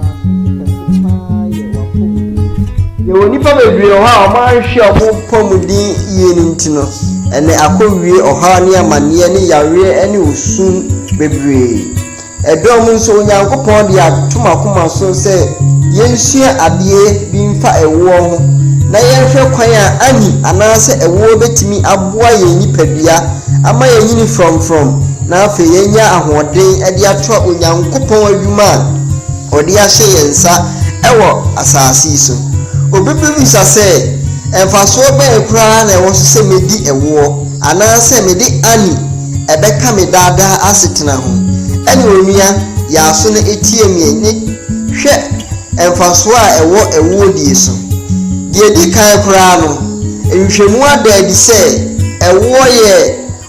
Asase so kɛse paa yɛ w'apɔmuden nti. Yɛwɔ nnipa bebree wɔ hɔ a wɔanhwɛ wɔn apɔmuden yie no nti no, ɛnnɛ akɔwie ɔhaw ne amanneɛ ne yareɛ ne osu bebree. Ɛdɔm nso, Onyankopɔn de atom akoma so sɛ yɛnsua adeɛ bi mfa ɛwoɔ ho na yɛnhwɛ kwan a ani anaasɛ ɛwoɔ bɛtumi aboa yɛn nipadua ama yɛanyini frɔmfrɔm na afei yɛanya ahoɔden de atoa Onyankopɔn adwuma a Ɔde ahyɛ yɛn nsa wɔ asase yi so. Obi bebisa sɛ, 'Mfasoɔ bɛn koraa na ɛwɔ so sɛ medi ɛwoɔ anaasɛ mede Annie bɛka me daa daa asetena ho? Ɛne Onua Yaaso no teɛm yɛn ne hwɛ mfasoɔ a ɛwɔ ɛwoɔ die so. Deɛ ɛdi kan koraa no, nhwehwɛmu ada adi sɛ ɛwoɔ yɛ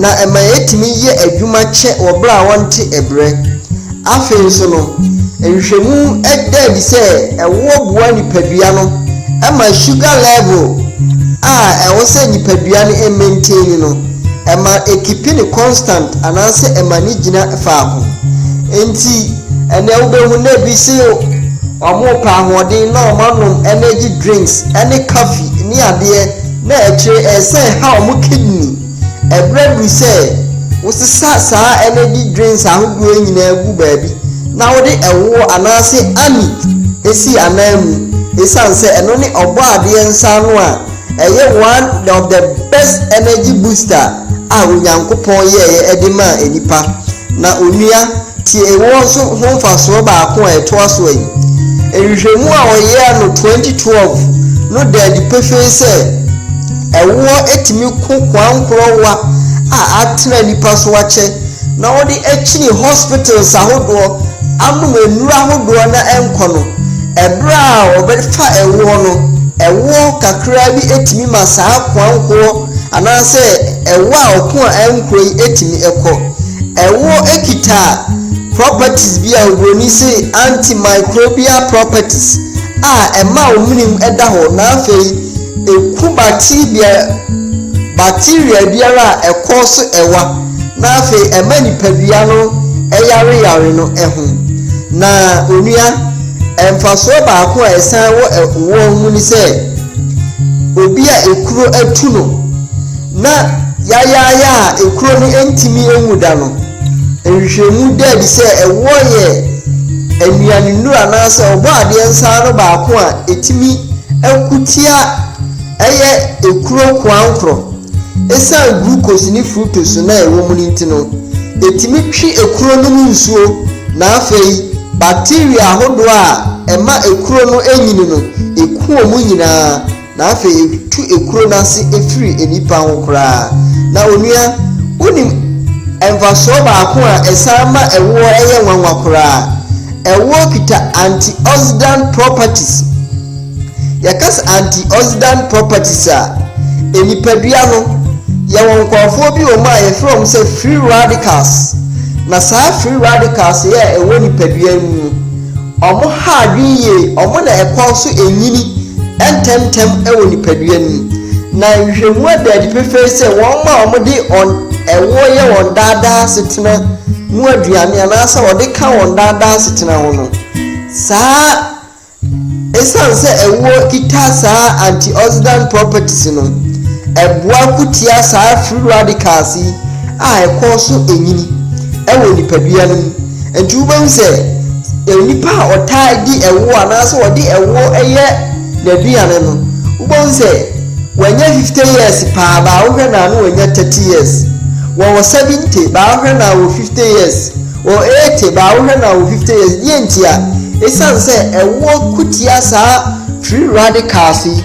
na ɛma yɛtumi yɛ adwuma kyɛ wɔ bere a wɔnte brɛ. Afei nso no, nhwehwɛmu da adi sɛ ɛwoɔ boa nipadua no ma sugar level a ɛwɔ sɛ nipadua no maintain no, ɛma ekipi no constant anaasɛ ɛma no gyina faako. Enti, ɛnnɛ wobɛhu na ebi se wɔrepɛ ahoɔden na wɔanom energy drinks ne kafi ne adeɛ. Na akyire ɛyɛ sɛ ha wɔn kidney ɛbrɛ duru sɛ wosesa saa energy drinks ahodoɔ yi nyinaa gu baabi na wode ɛwoɔ anaase anise si anan mu ɛsiane sɛ ɛno ne ɔbɔadeɛ nsa ano a ɛyɛ one of the best energy booster a Onyankopɔn yɛeɛ de maa nnipa. Na Onua. Tie Ewo Nso Ho Mfasoɔ Baako a Ɛtoa So Ayi. Nhwehwɛmu a wɔyɛɛ no 2012 no da adi pefee sɛ ɛwoɔ tumi ko koankorɔwa a atena nnipa so akyɛ na wɔde akyini hospitals ahodoɔ anom nnuro ahodoɔ na ɛnkɔ no. Ɛberɛ a wɔbɛfa ɛwoɔ no, ɛwoɔ kakraa bi tumi ma saa koankorɔ anaasɛ ɛwoɔ a ɔko a ɛnkorɔ yi tumi kɔ. Ɛwoɔ kita properties bi a oburoni se antimicrobial properties a ɛma wo menem da hɔ na afei ɛku bacteria bacteria biara a ɛkɔ so ɛwa na afei ɛma nipadua no ɛyare yare no ɛho na onua ɛmfasoɔ baako a ɛsan wɔ ɛwoɔ mu ne sɛ obi a ekuro atu no Ná yayaayaa a ekuro no ntumi nwu da no, nhwehwɛmu da adi sɛ ɛwɔ yɛ nnuanennuru anaasɛ Ɔbɔadeɛ nsa ano baako a ɛtumi ko tia ɛyɛ ekuro koankorɔ. Ɛsiane glucose ne fructose no a ɛwɔ mu no nti no, ɛtumi twe ekuro no mu nsuo, na afei bacteria ahodoɔ a ɛma ekuro no nyini no, ɛku wɔn nyinaa. Na afei yɛtu ekuro no ase firi nnipa ho koraa. Na onua, wonim mfasoɔ baako a ɛsan ma ɛwoɔ yɛ nwanwa koraa? Ɛwoɔ kita antioxidant properties. Yɛka sɛ antioxidant properties a, nnipadua no, yɛwɔ nkurɔfoɔ bi wɔ mu a yɛfrɛ wɔn sɛ free radicals. Na saa free radicals yɛ a ɛwɔ nnipadua no mu no, Ɔmo ha adwene yie, ɔmo na ɛkɔ so nyini ntɛmntɛm wɔ nipadua no mu, na nhwehwɛmu ada adi pefee sɛ wɔn a wɔde ɛwoɔ yɛ wɔn daa daa asetena mu aduane anaasɛ wɔde ka wɔn daa daa asetena ho no, saa esiane sɛ ɛwoɔ kita saa antioxidant properties no, ɛboa ko tia saa free radicals yi a ɛkɔ so nyini wɔ nipadua no mu. Nti wobɛhu sɛ nnipa a wɔtaa di ɛwoɔ anaasɛ wɔde ɛwoɔ yɛ n'aduane no, wobɛhu sɛ wɔanya 50 years paa, baa wohwɛ no a na wɔanya 30 years. Wɔwɔ 70, baa wohwɛ no a wɔwɔ 50 years. Wɔwɔ 80, baa wohwɛ no a wɔwɔ 50 years. Deɛ ntia? Ɛsiane sɛ ɛwoɔ ko tia saa free radicals yi.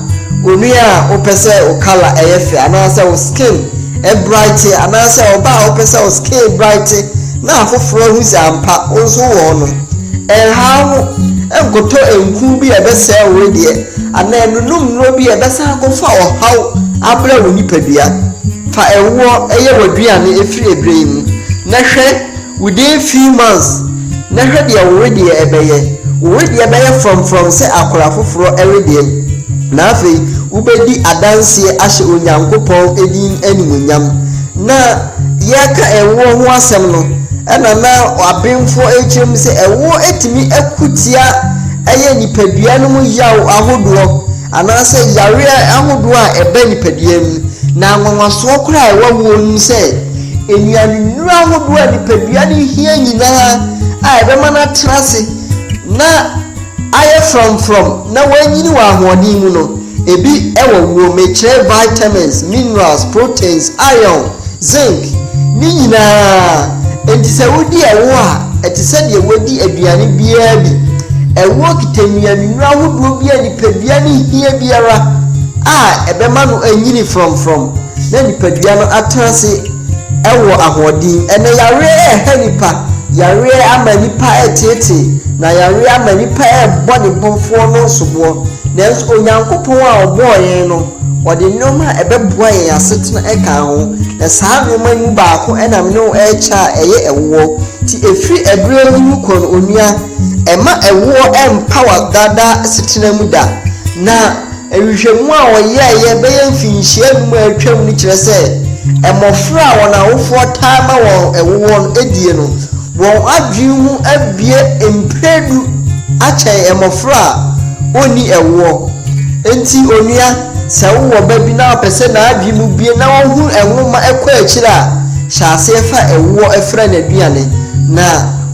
onua a wopɛ sɛ wo kala ɛyɛ fɛ anaasɛ wo skin ɛbraete anaasɛ ɔbaa a wopɛ sɛ wo skin braete na afoforɔ ahu sɛ ampa wo nso wowɔ hɔ no. Ɛnha wo ho nkɔtɔ nku bi a ɛbɛsɛe wo wedeɛ anaa nnunom nnuro bi a ɛbɛsan akɔfa ɔhaw abrɛ wo nipadua. Fa ɛwoɔ yɛ w'aduane firi ɛberɛ yi mu na hwɛ Within few months, na hwɛ deɛ wo wedeɛ ɛbɛyɛ, wo wedeɛ bɛyɛ frɔmfrɔm sɛ akora foforɔ wedeɛ, na afei wobɛdi adanseɛ ahyɛ Onyankopɔn din animuonyam. Na yɛreka ɛwoɔ ho asɛm no, ɛna na abenfoɔ rekyerɛ mu sɛ ɛwoɔ tumi ko tia ɛyɛ nipadua no mu yaw ahodoɔ, anaasɛ yareɛ ahodoɔ a ɛba nipadua mu, na anwanwasoɔ koraa a ɛwɔ awoɔ no mu sɛ nnuanennuro ahodoɔ a nipadua no hia nyinaa a ɛbɛma no atena ase na ayɛ frɔmfrɔm na wanyini wɔ ahoɔden mu no, ebi wɔ wuo. Mekyerɛ vitamins, minerals, proteins, iron, zinc, ne nyinaa. Enti sɛ wodi ɛwo a, ɛte sɛ deɛ wadi aduane biara bi. Ɛwoɔ kita nnuanennuro ahodoɔ bi a nipadua no hia biara a ɛbɛma no anyini frɔmfrɔm na nipadua no atena ase wɔ ahoɔden. Ɛnnɛ, yareɛ reha nnipa, yareɛ ama nnipa reteetee, na yareɛ ama nnipa rebɔ ne Bɔfoɔ no soboɔ. Nanso Onyankopɔn a ɔbɔɔ yɛn no, ɔde nneɛma a ɛbɛboa yɛn asetena kaa ho, na saa nneɛma yi mu baako na me ne wo rekyɛ a ɛyɛ ɛwoɔ. Enti ɛfiri ɛberɛ yi rekɔ no, onua, Ɛmma ɛwoɔ mmpa w'adaadaa asetena mu da. Na nhwehwɛmu a wɔyɛeɛ bɛyɛ mfinhyia nnum a atwam no kyerɛ sɛ, mmɔfra a wɔn awofoɔ taa ma wɔn woɔ no adie no, wɔn adwene mu abue mprɛ du akyɛn mmɔfra a wɔnni woɔ. Enti onua, sɛ wowɔ ba bi na wopɛ sɛ n'adwene mu bue na ɔhunu nwoma kɔ akyire a, hyɛ aseɛ fa woɔ frɛ no aduane, na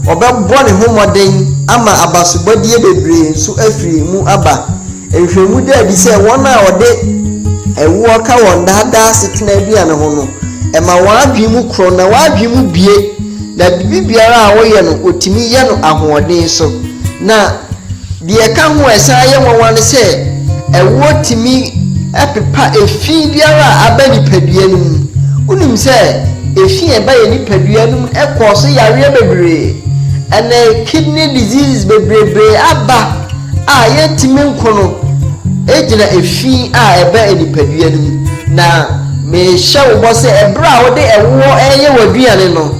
ɔbɛbɔ ne ho mmɔden ama abasobɔdeɛ bebree nso afiri mu aba. Nhwehwɛmu da adi sɛ wɔn a wɔde ɛwoɔ ka wɔn daa daa asetena aduane ho no, ɛma wɔn adwene mu korɔn na wɔn adwene mu bue, na biribiara a wɔyɛ no wɔtumi yɛ no ahoɔden so, na Deɛ ɛka ho a ɛsan yɛ nwanwa ne sɛ, ɛwoɔ tumi pepa efi biara a aba nipadua no mu. Wonim sɛ efi a ɛba yɛn nipadua no mu kɔɔso yareɛ bebree. Ɛnnɛ kidney diseases bebrebee aba a yɛntumi nko no gyina efi a ɛba nipadua no mu. Na mehyɛ wo bɔ sɛ ɛberɛ a wode ɛwoɔ reyɛ w'aduane no,